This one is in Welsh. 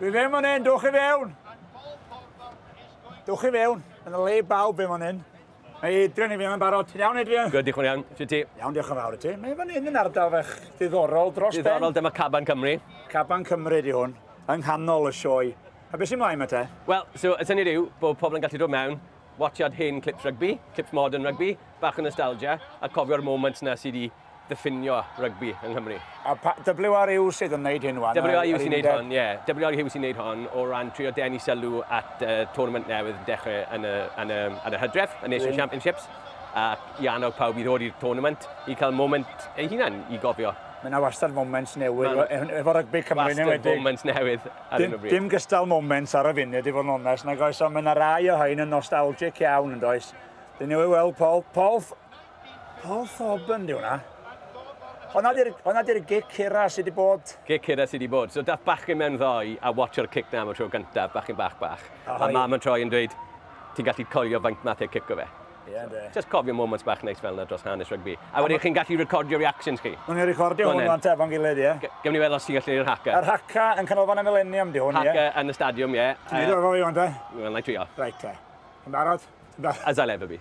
Dwi fe man hyn, dwch i fewn! Dwch i fewn, yn y le bawb fe man hyn. Mae Adrian i fi yma'n barod. Ti'n iawn, Adrian? Gwyd, diolch yn iawn. Ti'n ti? Iawn, diolch yn fawr i ti. Mae fan hyn yn ardal fach ddiddorol dros ben. Ddiddorol, dyma Caban Cymru. Caban Cymru di hwn, yng nghanol y sioe. A beth sy'n mlaen mae te? Wel, so, y syniad yw bod pobl yn gallu dod mewn, watchad hen clips rygbi, clips modern rygbi, bach o nostalgia, a cofio'r moments na sydd wedi ddiffinio rygbi yng Nghymru. A pa... WR yw sydd yn wneud hyn wan? WR yw sy'n wneud hon, ie. WR yw sy'n wneud hon o ran trio denu sylw at y tournament newydd yn dechrau yn y, yn y, yn y hydref, y Nations Championships, ac i annog pawb i ddod i'r tournament i cael moment ei hunan i gofio. Mae yna wastad moments newydd efo rygbi Cymru yn enwedig. Wastad moments newydd ar hyn o bryd. Dim gystal moments ar y funud i fod yn onest nag oes, ond mae yna rai o hyn yn nostalgic iawn yn does. Dyn ni wedi weld Paul, Paul, Paul Thorburn ydy hwnna. Honna di'r, honna di'r gic hira sydd wedi bod. Gic hira sydd wedi bod. So dath bachgen mewn ddoe a watcho'r cic na am y tro gyntaf, bachgen bach bach. Oh, a mam yn troi yn dweud, ti'n gallu coelio faint math e cico fe. Yeah, so, just cofio moments bach neis fel yna dros hanes rygbi. A wedyn chi'n gallu recordio reactions chi. Nw'n ni recordio hwn o'n tefon gilydd, ie. Yeah. Gym ni weld os ti'n gallu i'r haca. Yr haca yn canolfan y milenium di hwn, ie. Haca yn y stadiwm, ie. Ti'n neud o efo fi, o'n te? Wel, na i trio. Reit, te. Yn barod? As I'll ever be.